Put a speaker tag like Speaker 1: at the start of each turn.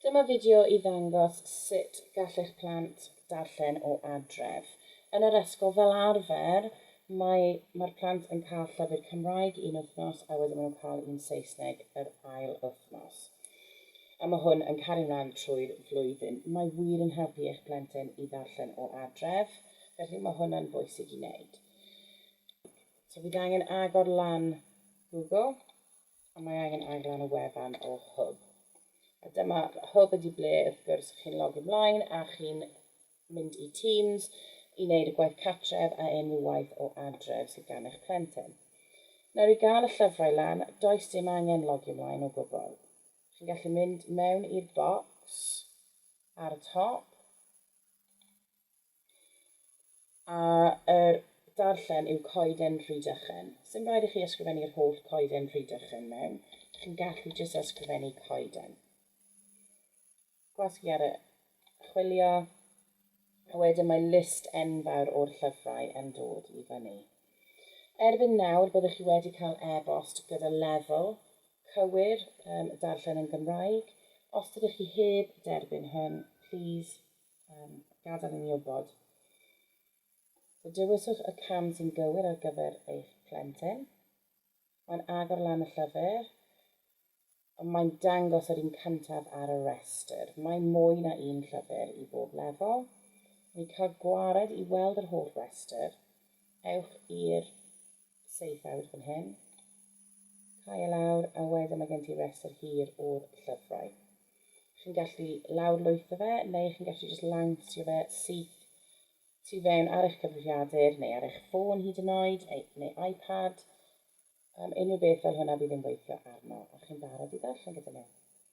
Speaker 1: Dyma fideo i ddangos sut gall eich plant darllen o adref. Yn yr ysgol, fel arfer, mae mae'r plant yn cael llyfr Cymraeg un wythnos a wedyn maen nhw'n cael un Saesneg yr ail wythnos. A mae hwn yn cario mlaen trwy'r flwyddyn. Mae wir yn helpu eich plentyn i ddarllen o adref, felly mae hwnna'n bwysig i wneud. So fydd angen agor lan Google a mae angen aglen y wefan o Hwb. A dyma Hwb ydi ble wrth gwrs chi'n logi mlaen a chi'n mynd i Teams i wneud y gwaith catref a unrhyw waith o adref sydd gan eich plentyn. Nawr i gael y llyfrau lan, does dim angen logi mlaen o gwbl. Chi'n gallu mynd mewn i'r bocs ar y top, A yr darllen yw coeden Rhydychen. Sdim rhaid i chi ysgrifennu'r holl coeden Rhydychen mewn. Chi'n gallu jyst ysgrifennu coeden. Gwasgu ar y chwilio. A wedyn mae list enfawr o'r llyfrau yn dod i fyny. Erbyn nawr byddwch chi wedi cael e-bost gyda lefel cywir um, darllen yn Gymraeg. Os ydych chi heb derbyn hwn, please Yym, gadael i ni wybod. So dewiswch y cam sy'n gywir ar gyfer eich plentyn. Mae'n agor lan y llyfr, ond mae'n dangos yr un cyntaf ar y rhestr. Mae mwy na un llyfr i bob lefel. Mae cael gwared i weld yr holl restr, ewch i'r Safeout fan hyn. Cau e lawr a wedyn mae gen ti rhestr hir o'r llyfrau. Chi'n gallu lawrlwytho fe neu chi'n gallu jyst lawnsio fe syth tu fewn ar eich cyfrifiadur neu ar eich ffôn hyd yn oed neu iPad. Um, unrhyw beth fel hwnna bydd yn gweithio arno a chi'n barod i ddarllen gyda nhw.